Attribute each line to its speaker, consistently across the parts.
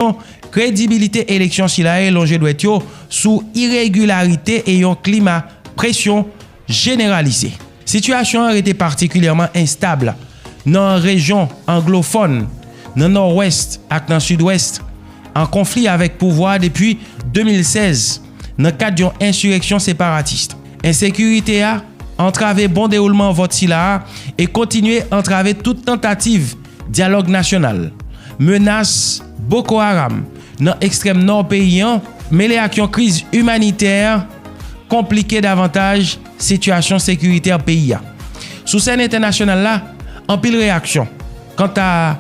Speaker 1: kesyon kredibilite eleksyon sila e lonje dwèt yo sou iregilarite e yon klima presyon jeneralize. Sitiyasyon an rete patikilyèman enstab nan rejyon anglofòn, nan Nòwès ak nan Sidwès, an konfli avèk pouvwa a depi 2016 nan kad yon ensireksyon separatis. Ensekirite a antrave bon dewoulman vòt sila a e kontinye antrave tout tantativ Dyalòg nasyonal, Menas Boko Haram nan ekstrèm nò peyi an mele ak yon kriz imanitè konplike davantaj sitiyasyon sekiritè peyi a. Sou sèn entènasyonal la, anpil reyaksyon kanta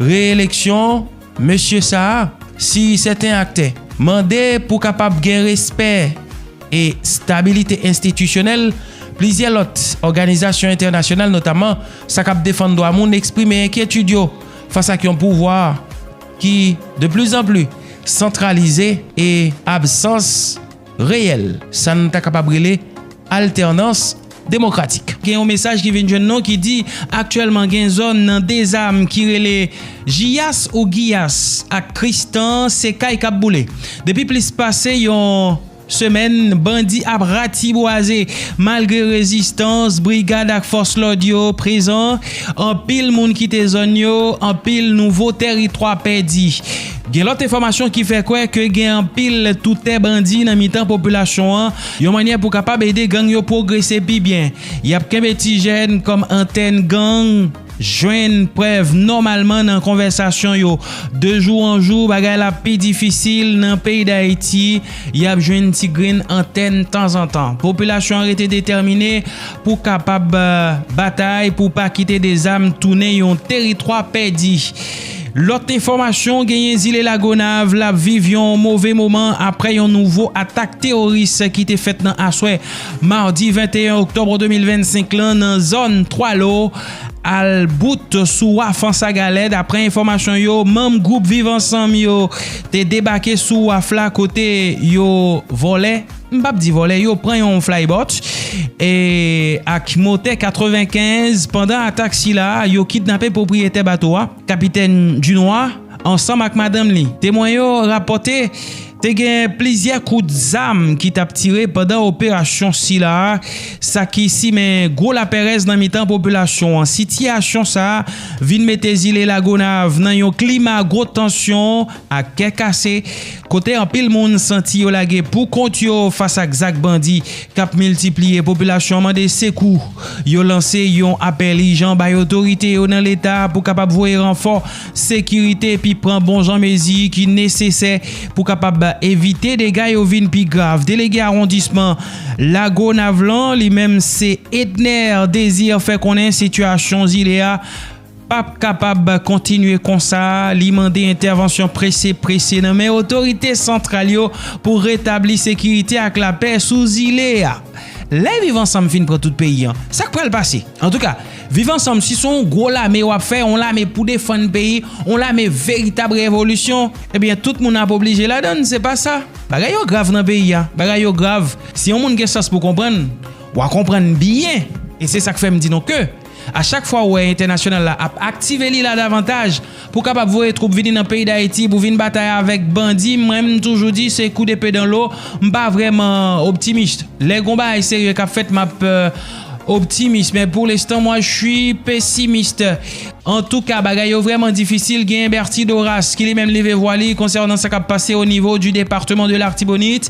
Speaker 1: re-eleksyon. Mesye sa a, si sèten aktè, mande pou kapab gen respè e stabilite enstitisyonèl, plizyè lòt òganizasyon entènasyonal notaman sa k ap defann dwa moun eksprime enkyetid yo fas ak yon pouvwa ki de pli zan pli santralize e absans reyèl, sa n ta kapab rele altènans demokratik. Gen yon mesaj ki vin jwenn nou ki di aktyèlman gen zòn nan Dezam ki rele Jiyas ou Giyas ak Kristan se kay k ap boule. Depi plis pase yon semèn bandi ap ratibwaze malgre rezistans brigad ak fòs lòd yo prezan. Anpil moun kite zòn yo, anpil nouvo tèritwa pèdi. Gen lòt enfòmasyon ki fè kwè ke gen anpil toutè bandi nan mitan popilasyon an, yon mannyè pou kapab ede gang yo pwogrese pi byen. Y ap kenbe ti jèn kòm antèn gang, jwenn prèv nòmalman nan konvèsasyon yo. De jou an jou, bagay la pi difisil nan peyi Dayiti, y ap jwenn ti grenn antèn tanzantan. Popilasyon an rete detèmine pou kapab batay pou pa kite dezam tounen yon teritwa pèdi. Lòt enfòmasyon genyen zile Lagonav la ap viv yon move moman aprè yon nouvo atak teworis ki te fèt nan aswè madi 21 oktòb 2025 lan nan zòn 3 lo al bout sou waf Ansagalè daprè enfòmasyon yo manm gwoup viv ansanm yo te debake sou waf la kote yo vòlè M pap di vòlè yo pran yon Flybot ak motè 95 pandan atak sila yo kidnape pwopriyetè bato a Kapitèn Dunois ansanm ak madanm li. Temwen yo rapòte te gen plizyè kout zam ki tap tire pandan operasyon sila sa ki simen gwo lapèrèz nan mitan popilasyon an. Sitiyasyon sa vin mete zile Lagonav nan yon klima gwo tansyon. ak kè kase, kote anpil moun santi yo lage pou kont yo fas ak zak bandi k ap miltipliye, popilasyon an mande sekou. Yo lanse yon apèl ijan bay otorite yo nan leta pou kapab voye ranfò sekirite epi pran bon jan mezi ki nesesè pou kapab evite dega yo vin pi grav. Delege awondisman Lagonav lan, li menm se Edner Désir fè konnen sitiyasyon zile a pap kapab kontinye konsa, li mande entèvansyon prese prese nan men otorite santral yo pou retabli sekirite ak lapè sou zile a. Lè viv ansanm fin pran tout peyi an, sak pral pase? Antouka, viv ansanm si se yon gwo lame wap fè, yon lame pou defann peyi, yon lame veritab revolisyon, ebyen tout moun ap oblije ladann, se pa sa. Bagay yo grav nan peyi a, bagay yo grav, si yon moun gen sans pou konprann, wa konprann byen e se sak fè m di nou ke, A chak fwa ou wè entènasyonal la ap aktive li la davantaj pou kapab voye twoup vini nan peyi dayiti pou vin batay avèk bandi mwen m toujou di se kou depe dan lo m pa vrèman optimist lè gon bagay serye kap fèt map optimist men pou lestan mwa chwi pesimist. Antouka bagay yo vrèman difisil genyen Berthy Doras ki li menm leve vwa li konsènan sa kap pase o nivo di departeman de l'artibonite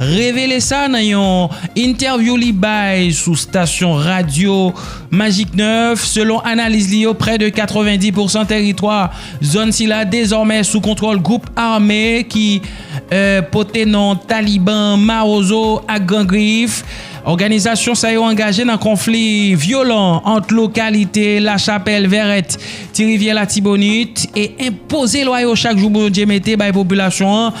Speaker 1: revele sa nan yon entèvyou li bay sou stasyon radyo Magic 9. Selon analiz li yo, prè de 90 pousan tèritwa zòn sila dezòmè sou kontwòl gwoup ame ki pote non Taliban, Mawozo ak Gran Grif. Òganizasyon sa yo angaje nan konfli vyolan ant lokalite Lachapèl, Vèrèt, Ti Rivyè, Latibonit e enpoze lwa yo chak jou Bondye mete bay popilasyon an.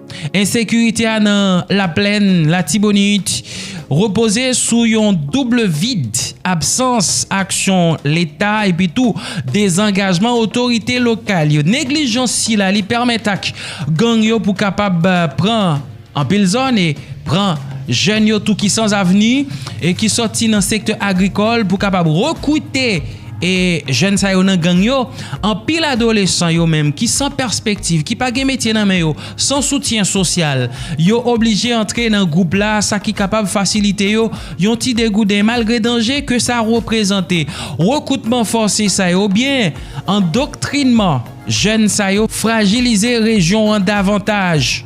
Speaker 1: Ensekirite a nan Laplèn Latibonit repoze sou yon double vid, absans aksyon leta epi tou dezangajman otorite lokal yo. Neglijans sila li pèmèt ak gang yo pou kapab pran anpil zòn e pran jèn yo tou ki san avni e ki sòti nan sektè agrikòl pou kapab rekrite E jèn sa yo nan gang yo, anpil adolesan yo menm ki san pèspektiv, ki pa gen metye nan men yo, san soutyen sosyal, yo oblije antre nan gwoup la sa ki kapab fasilite yo yon ti degouden malgre danje ke sa reprezante. Rekrutman fòse sa yo oubyen andoktrinman jèn sa yo frajilize rejyon an davantaj.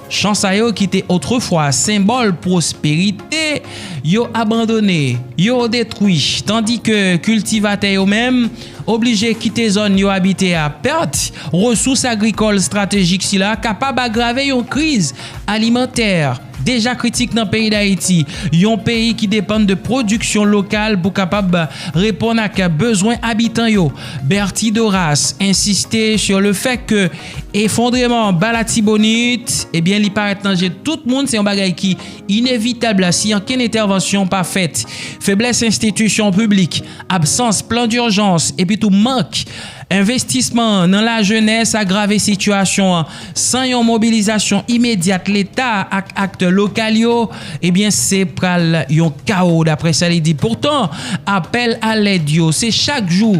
Speaker 1: Chan sa yo ki te otrefwa senbòl pwosperite, yo abandone, yo detwi, tandike kiltivatè yo menm oblije kite zòn yo abite a. Pèt resous agrikòl estratejik sila kapab agrave yon kriz alimantè deja kritik nan peyi Dayiti, yon peyi ki depann de pwodiksyon lokal pou kapab reponn ak bezwen abitan yo. Berthy Doras ensiste sou le fè ke Efondreman an ba Latibonit, ebyen li parèt nan je tout moun, se yon bagay ki inevitab la si ankenn entèvansyon pa fèt. Feblès enstitisyon piblik, absans plan dirjans epi tou mank envestisman nan lajenès agrave sitiyasyon an. San yon mobilizasyon imedyat Leta ak aktè lokal yo, ebyen se pral yon kawo, daprè sa li di. Poutan, apèl a lèd yo se chak jou.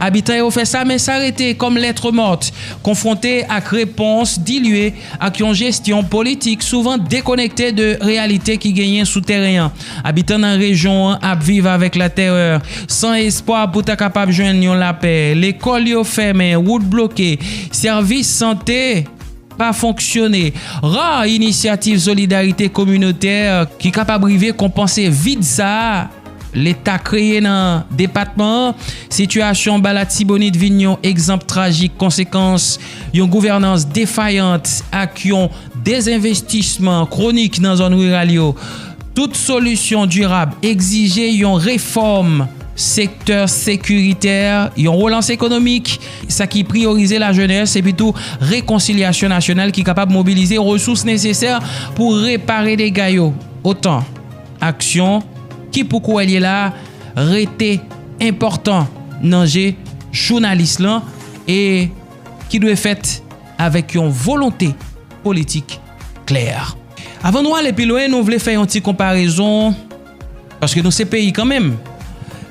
Speaker 1: Abitan yo fè sa men sa rete kòm lettre morte konfwonte ak repons dilye ak yon jesyon politik souvan dekonekte de reyalite ki genyen sou tèren an. Abitan nan rejyon an ap viv avèk latèrè, san espwa pou ta kapab jwenn yon lapè. Lekòl yo fèmen, wout bloke, sèvis sante. pa fonksyone. Ra inisyativ solidarite kominotè ki kapab rive konpanse vid sa a Leta kreye nan depatman an. Sitiyasyon ba Latibonit vin yon egzanp trajik konsekans yon gouvènans defayant ak yon dezenvestisman kwonik nan zòn riral yo. Tout solisyon dirab egzije yon refòm sektè sekiritè, yon relans ekonomik, sa ki priyorize lajenès epitou rekonsilyasyon nasyonal ki kapab mobilize resous nesesè pou repare dega yo otan aksyon ki pou kouwèl ye la rete enpòtan nan je jounalis lan e ki dwe fèt avèk yon volonte politik klè. Avan nou ale pi lwen nou vle fè yon ti konparezon. Paske nou se peyi kanmenm.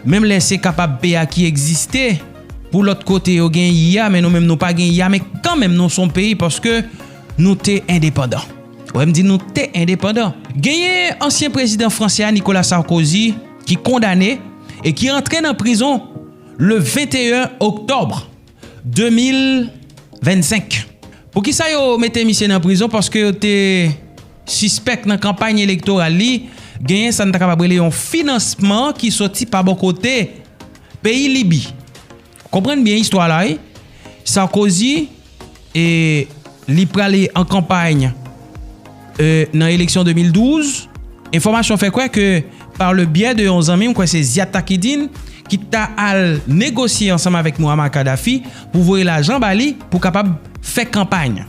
Speaker 1: Menm lè se kapab p a ki egziste pou lòt kote yo gen y a men nou menm nou pa gen y a men kanmenm nou son peyi paske nou te endepandan. Wè m di nou te endepandan. Genyen ansyen prezidan franse a Nikola Sarkozi ki kondane e ki antre nan prizon le 21 oktòb. 2025 Poukisa yo mete misye nan prizon paske yo te sispèk nan kanpay elektoral li genyen sa n ta kapab rele yon finansman ki soti pa bò kote peyi Libi konprann byen istwa la wi Sarkozy E li prale an kanpay nan eleksyon 2012. Enfòmasyon fè kwè ke pa le byè de yon zanmi, mwen kwè se Ziad Takidine, ki ta al negosye ansanm avèk Mouammar Kadhafi pou voye lajan ba li pou kapab fè kanpay.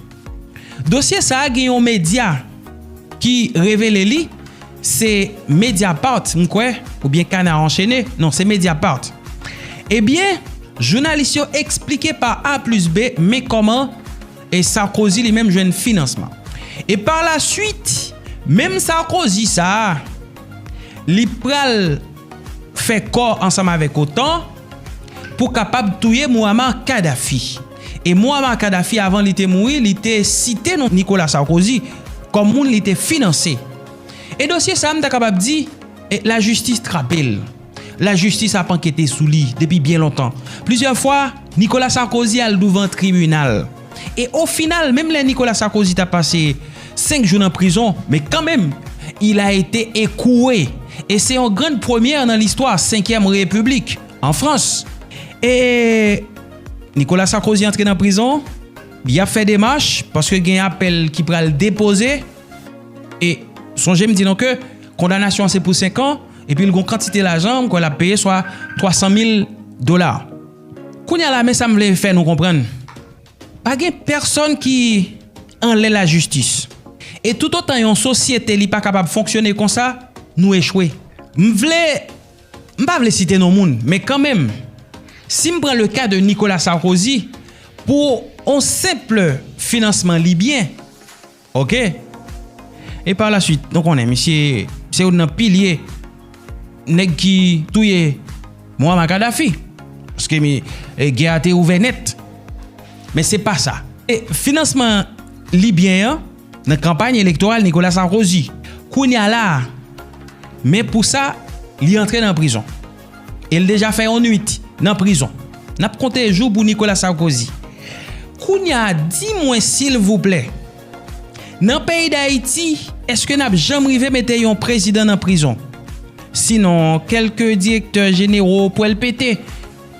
Speaker 1: Dosye sa a gen yon medya ki revele li, Se Mediapart m kwè, oubyen Canard Enchaîné, non se Mediapart. Ebyen, jounalis yo eksplike pa A plis B men kòman e
Speaker 2: Sarkozy li menm jwenn finansman. E pa la swit, menm Sarkozy sa a, li pral fè kò ansanm avèk otan pou kapab touye Mouammar Kadhafi. E Mouammar Kadhafi avan li te mouri, li te site non Nicolas Sarkozy kòm moun li te finanse. E dosye sa a m ta kapab di, lajistis trape l. Lajistis ap ankete sou li depi byen lontan. Plizyè fwa, Nikola Sarkozi al douvan tribinal. E ofinal, menm lè Nikola Sarkozi ta pase 5 jou nan prizon, men kanmenm, il a ete ekouwe. E se yon grand premyè nan listwa Senkyèm Repiblik, an Frans. E Nikola Sarkozi antre nan prizon, y ap fè demach, paske gen apèl ki pral depoze. E sonje m di nou ke kondanasyon an se pou 5 an epi l gon kantite lajan m kwè l ap peye swa 300 mil dola. Kounye a la men sa m vle fè nou konprann, pa gen pèsòn ki anlè lajistis. E toutotan yon sosyete li pa kapab fonksyone konsa, nou echwe. M vle, m pa vle site non moun, men kanmenm, si m pran le ka de Nikola Sarkozy, pou on senpl finansman libyen, Ok! E par la suite, nou konnen misye se youn nan pilye nèg ki touye Muammar Kadhafi. Paske gè a te ouvè nèt. Men se pa sa. E finansman libyen an nan kanpay elektoral Nicolas Sarkozy. Kounya la a, men pou sa li antre nan prizon. E l deja fè yon nwit nan prizon. N ap konte jou pou Nicolas Sarkozy. Kounya di mwen silvouplè, nan peyi Dayiti èske n ap janm rive mete yon prezidan nan prizon? Sinon kèlke direktè jenero pwèl pete,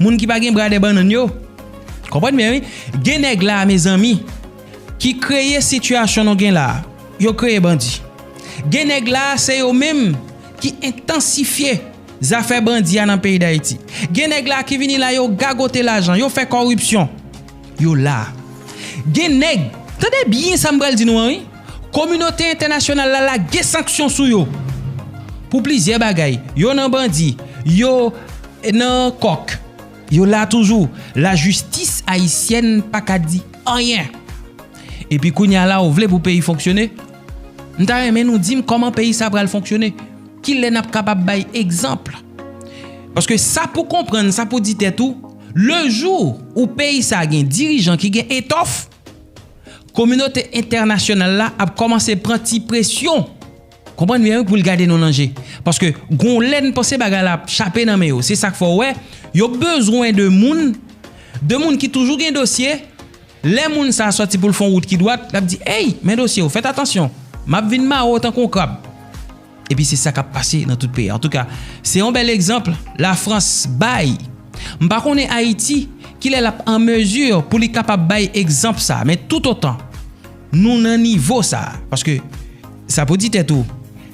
Speaker 2: moun ki pa gen bradè bannann yo. Konprann byen wi. Gen nèg la a mezanmi ki kreye sitiyasyon nou gen la a. Yo kreye bandi. Gen nèg la a se yo menm ki entansifye. Zafè bandi a nan peyi Dayiti. Gen nèg la ki vini la yo gagote lajan, yo fè kòripsyon. Yo la. Gen nèg, tande byen sa m pral di nou an wi, kominote entènasyonal la lage sanksyon sou yo pou plizyè bagay. Yo nan bandi, yo nan kòk. Yo la toujou. Lajistis ayisyèn pa ka di anyen. Epi kounye a la ou vle pou peyi fonksyone? M ta renmen nou di m kòman peyi sa pral fonksyone? Ki lè n ap kapab bay egzanp? Paske sa pou konprann, sa pou di tèt ou, lejou ou peyi sa a gen dirijan ki gen etòf, kominote entènasyonal la ap kòmanse pran ti presyon, konprann byen wi, pou l gade nou nan je. Paske gon lè n panse bagay la ap chape nan men yo. Se sa k fè w wè yo bezwen de moun, de moun ki toujou gen dosye. Lè moun sa a sòti pou l fè yon wout ki dwat, l ap di, Ey, men dosye w, fèt atansyon! M ap vin mare w tankou yon krab! Epi se sa k ap pase nan tout peyi a. Antouka, se yon bèl egzanp Lafrans bay. M pa konnen Ayiti ki lè l ap an mezi pou li kapab bay egzanp sa a. Men toutotan nou nan nivo sa a, paske sa pou di tèt ou,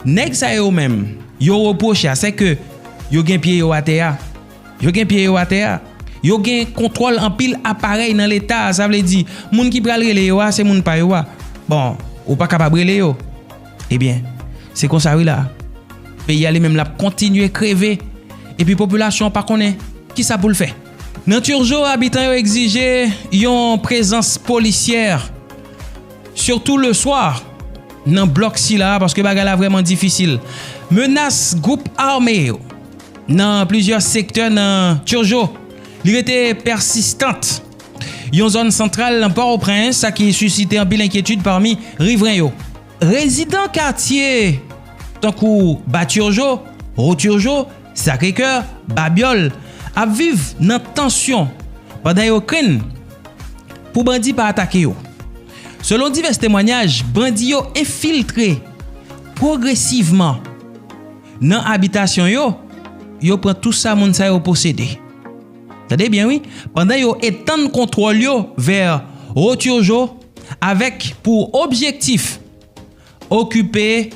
Speaker 2: nèg sa yo menm yo repwoche a, sèke yo gen pye yo atè a. Yo gen pye yo atè a. Yo gen kontwòl anpil aparèy nan leta a. Sa vle di, moun ki pral rele yo a, se moun pa yo a. Bon, ou pa kapab rele yo. Ebyen, se konsa wi la. Peyi a li menm l ap kontinye kreve. Epi popilasyon an pa konnen ki sa pou l fè. Nan Turgeau, abitan yo egzije yon prezans polisyè, sitou leswa, nan blòk sila a paske bagay la vrèman difisil. Menas gwoup ame yo. Nan plizyè sektè nan Turgeau, li rete pèsistant. Yon zòn santral nan Pòtoprens, sa ki sisite anpil enkyetid pami rivren yo. Rezidan katye tankou Ba Turgeau, Haut Turgeau, Sacré-Coeur, Babiòl ap viv nan tansyon pandan yo krenn pou bandi pa atake yo. Selon divès temwanyaj, bandi yo enfiltre pwogresivman. Nan abitasyon yo, yo pran tou sa moun sa yo posede. Tande byen wi, pandan yo etann kontwòl yo vè Rohtyojo avèk pou objektif okipe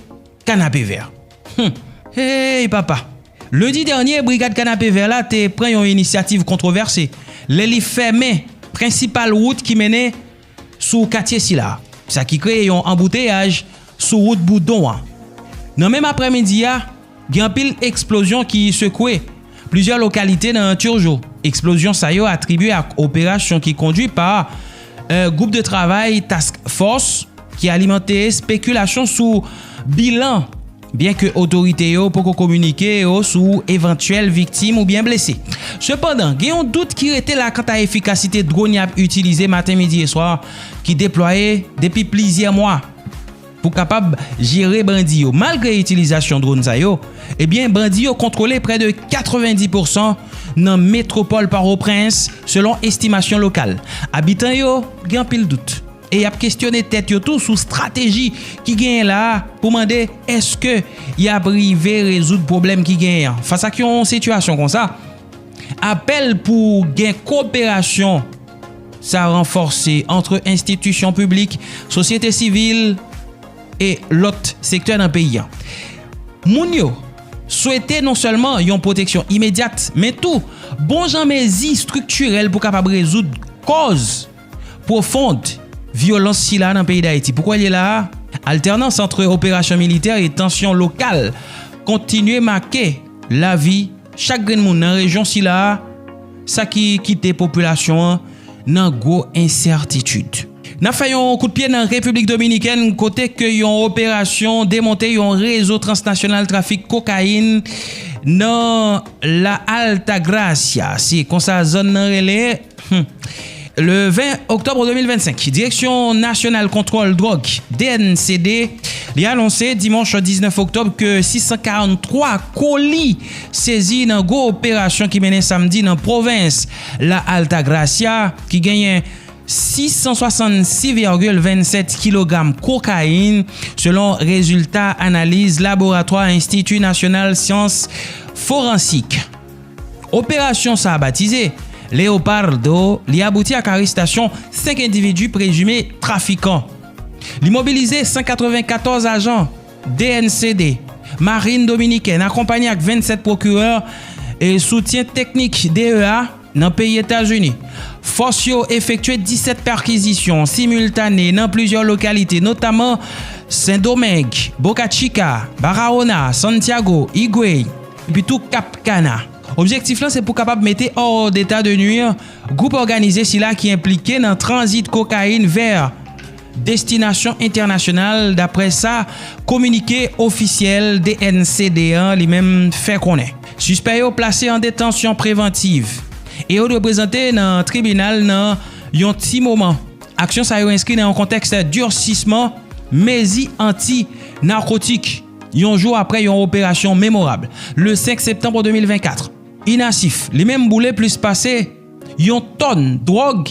Speaker 2: Kanapevè. Hum! Hey papa! Lendi dènye, Brigad Kanapevè la te pran yon inisyativ kontwovèse lè li fèmen prensipal wout ki mennen sou katye sila, sa ki kreye yon anbouteyaj sou wout Boudon an. Nan menm aprèmidi a, gen anpil eksplozyon ki sekwe plizyè lokalite nan Turgeau. Eksplozyon sa yo atribye ak operasyon ki kondwi pa Gwoup de Travay Task Fòs ki alimante espekilasyon sou bilan. Byenke otorite yo poko kominike yo sou evantyèl viktim oubyen blese. Sepandan, gen yon dout ki rete la kanta efikasite dronn y ap itilize maten, midi e swa ki deplwaye depi plizyè mwa pou kapab jere bandi yo. Malgre itilizasyon dronn sa yo, ebyen bandi yo kontwole prè de 90 pousan nan metwopòl Pòtoprens, selon estimasyon lokal. Abitan yo gen anpil dout. e y ap kesyone tèt yo tou sou strateji ki genyen la a pou mande èske y ap rive rezoud pwoblèm ki genyen an. Fas ak yon sitiyasyon konsa, apèl pou gen koperasyon sa ranfòse antre enstitisyon piblik, sosyete sivil e lòt sektè nan peyi a. Moun yo swete non sèlman yon pwoteksyon imedyat men tou bon jan mezi estriktirèl pou kapab rezoud kòz. Pwofond vyolans sila nan peyi Dayiti poukò li la a, altènans antre operasyon militè e tansyon lokal kontinye make lavi chak grenn moun nan rejyon sila a, sa ki kite popilasyon an nan gwo ensètitid. N ap fè yon kout pye nan Repiblik Dominikèn kote ke yon operasyon demonte yon rezo transnasyonal trafik kokayin nan La Altagracia, se konsa zòn nan rele. Humm le 20 oktòbre 2025 Direksyon Nasyonal Kontwòl Dwòg, dncd, li anonse dimanch 19 oktòb ke 643 koli sezi nan gwo operasyon ki mennen samdi nan pwovens La Altagracia ki genyen 666,27 kilogram kokayin selon rezilta analiz laboratwa Enstiti Nasyonal Syans Foransik. Operasyon sa batize, Leopardo, li abouti ak arestasyon 5 endividi prezime trafikan. Li mobilize 194 ajan DNCD, Marin Dominikèn akonpanye ak 27 pwokirè e soutyen teknik DEA nan peyi Etazini. Fòs yo efektye 17 pèkizisyon similtane nan plizyè lokalite notaman Sendomeng, Boca Chica, Barahona, Santiago, Higüey. epitou Kap Kana. Objektif lan se pou kapab mete hors d'état de nuire gwoup òganize sila ki enplike nan tranzit kokayin vè destinasyon entènasyonal, daprè sa kominike ofisyèl dnsd an li menm fè konnen. Sispè yo plase an detansyon prevantiv e yo dwe prezante nan tribinal nan yon ti moman. Aksyon sa yo enskri nan yon kontèks dirsisman mezi anti narkotik. Yon jou aprè yon operasyon memorab, le 5 septanb 2024, INASIF li menm boule plis pase yon tòn dwòg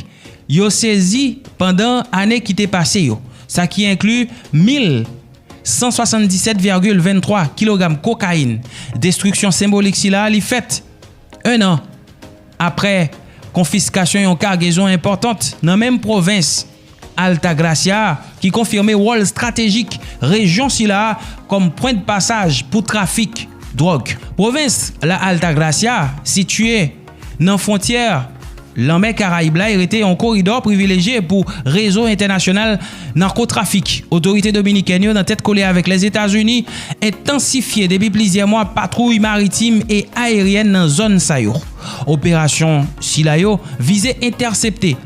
Speaker 2: yo sezi pandan ane ki te pase yo, sa ki enkli 1.177,23 kilogram kokayin. Destriksyon senbolik sila li fèt 1 an aprè konfiskasyon yon kagezon enpòtant nan menm pwovens Altagracia, ki konfime wòl estratejik rejyon sila a kòm pwen de pasaj pou trafik dwòg. Pwovens La Altagracia sitye nan fwontyè Lanmè Karayib la e rete yon koridò privilejye pou rezo entènasyonal narkotrafik. Otorite dominikèn yo nan tèt kole avèk Lèzetazini entansifye depi plizyè mwa patwouy maritim e ayeryèn nan zòn sa yo. Operasyon sila yo vize entèsepte.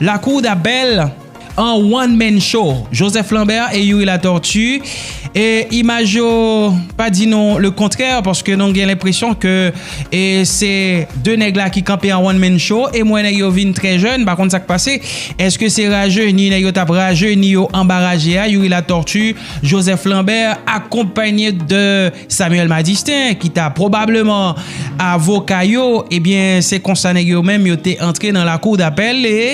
Speaker 2: Lakou Dabèl an one man show, Joseph Lambert et Youri Latortue e imaj yo pa di nou le kontrè paske nou gen lenpresyon ke e se 2 nèg la ki kanpe an one man show e m wè nèg yo vin trè jèn pa konn sak pase eske se rajeni nèg yo tap rajeni yo anba raje a Youri Latortue, Joseph Lambert akonpanye de Samuel Madistin ki ta pwobableman avoka yo, ebyen se konsa nèg yo menm yo te antre nan lakou dapèl e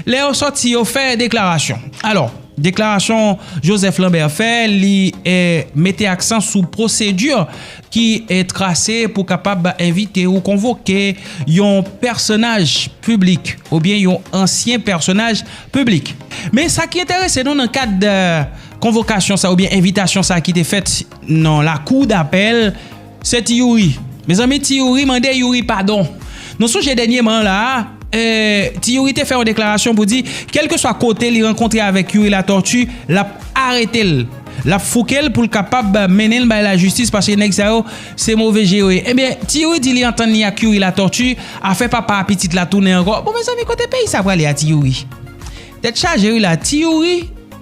Speaker 2: lè yo sòti yo fè deklarasyon. Alò, deklarasyon Joseph Lambert fè li mete aksan sou pwosedi ki trase pou kapab envite ou konvoke yon pèsonaj piblik oubyen yon ansyen pèsonaj piblik. Men sa ki enterese nou nan kad konvokasyon sa oubyen envitasyon sa ki te fèt, Nan lakou dapèl, se Ti Youri. Mezanmi Ti Youri mande Youri padon. Nou sonje dènyeman la a, Ti Youri te fè yon deklarasyon pou di kèlkeswa kote li rankontre avèk Youri Latortue, l ap arete l, l ap fouke l pou l kapab mennen l bay lajistis paske nèg sa yo se move je yo ye. Ebyen, Ti Youri di li antann li ak Youri Latortue, afè papa a pitit la tounen ankò. Bon mezanmi kote peyi sa prale a Ti Youri? Tèt chaje wi la a Ti Youri!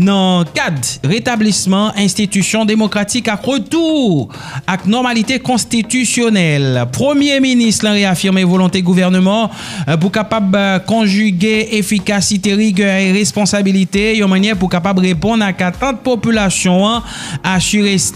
Speaker 2: Nan kad retablisman enstitisyon demokratik ak retou ak nòmalite konstitisyonèl, Premye Minis lan reyafime volonte gouvèneman an pou kapab konjige efikasite, rigè e responsabilite yon mannyè pou kapab reponn ak atant popilasyon an, asire.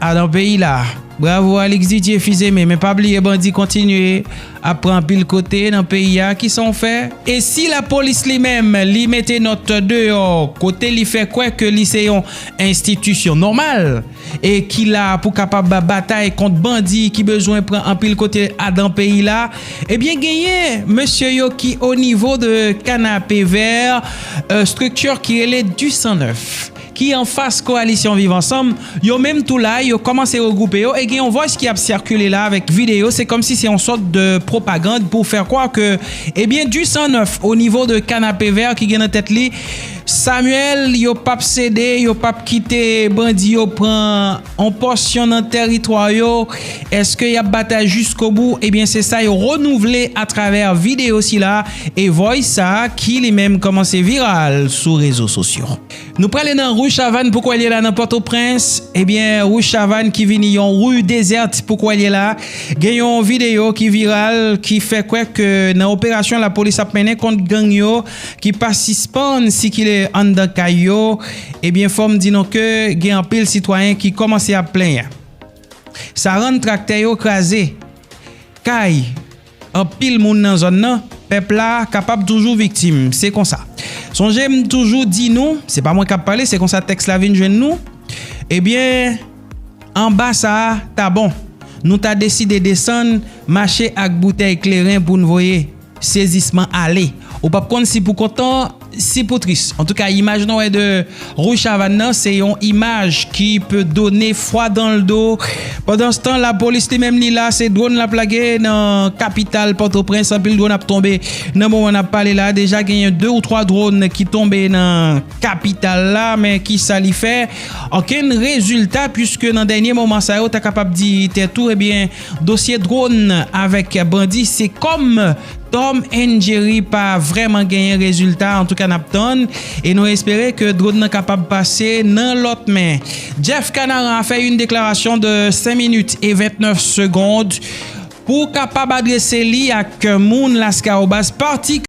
Speaker 2: Ah nan peyi la. Bravo Alix Didier fizeme men pa bliye bandi kontinye ap pran anpil kote nan peyi a kisan w fè? E si la polis li menm li mete nòt deyò kote li fè kwè ke li se yon enstitisyon nòmal e ki la pou kapab batay kont bandi ki bezwen pran anpil kote a dan peyi la ebyen genyen mesye yo ki o nivo de kanapevè estrikti ki rele du 109 ki anfas koalisyon Viv Ansanm, yo menm tou la, yo kòmanse regwoupe yo e gen yon vòys ki ap sikile la avèk videyo, se kòmsi se yon sòt de pwopagand pou fè kwà ke ebyen du sang neuf au niveau de Canapé-Vert ki gen nan tèt li Samuel yo pap sede, yo pap kite bandi yo pran yon pòsyon nan tèritwa yo, eske y ap batay jiskobou, ebyen se sa yo renouvle atravè videyo sila e vòys sa ki li menm kòmanse viral sou rezo sosyo. Nou prale nan Rue Chavanne poukò li la nan Pòtoprens, ebyen Rue Chavanne ki vini yon Rue dezerte poukò li la, gen yon videyo ki viral ki fè kwè ke nan operasyon lapolis ap mennen kont gang yo ki pa sispann sikile anndan kay yo, ebyen fòm di nou ke gen anpil sitwayen ki kòmanse ap plenyen sa rann traktè yo kraze kay. Anpil moun nan zòn nan, pèp la, kapab toujou viktim. Se konsa. Sonje m toujou di nou, se pa mwen k ap pale, se konsa tèks la vin jwenn nou, ebyen, anba sa a ta bon. Nou ta deside desann, mache ak boutèy kleren pou n voye sezisman ale. Ou p ap konn si pou kontan. Si pou tris. Antouka imaj nou wè de Rouge Chavanne nan se yon imaj ki pe done fwa dan l do. Pandanstan lapolis li menm li la se dron l ap lage nan kapital Pòtoprens. Anpil dron ap tonbe nan moman n ap pale la. Deja genyen 2 ou 3 dron ki tonbe nan kapital la. Men ki sa li fè? Okenn rezilta puiske nan dènye moman sa yo ta kapab di tèt ou ebyen dosye dron avèk bandi se kòm. Tom and Jerry pa vrèman genyen rezilta antouka nap tann e nou espere ke drone nan kapab pase nan lòt men. Jeff Kanaran a fè yn deklarasyon de 5 minit e 29 segond pou kapab adrese li ak moun Lascahobas patikilyèman.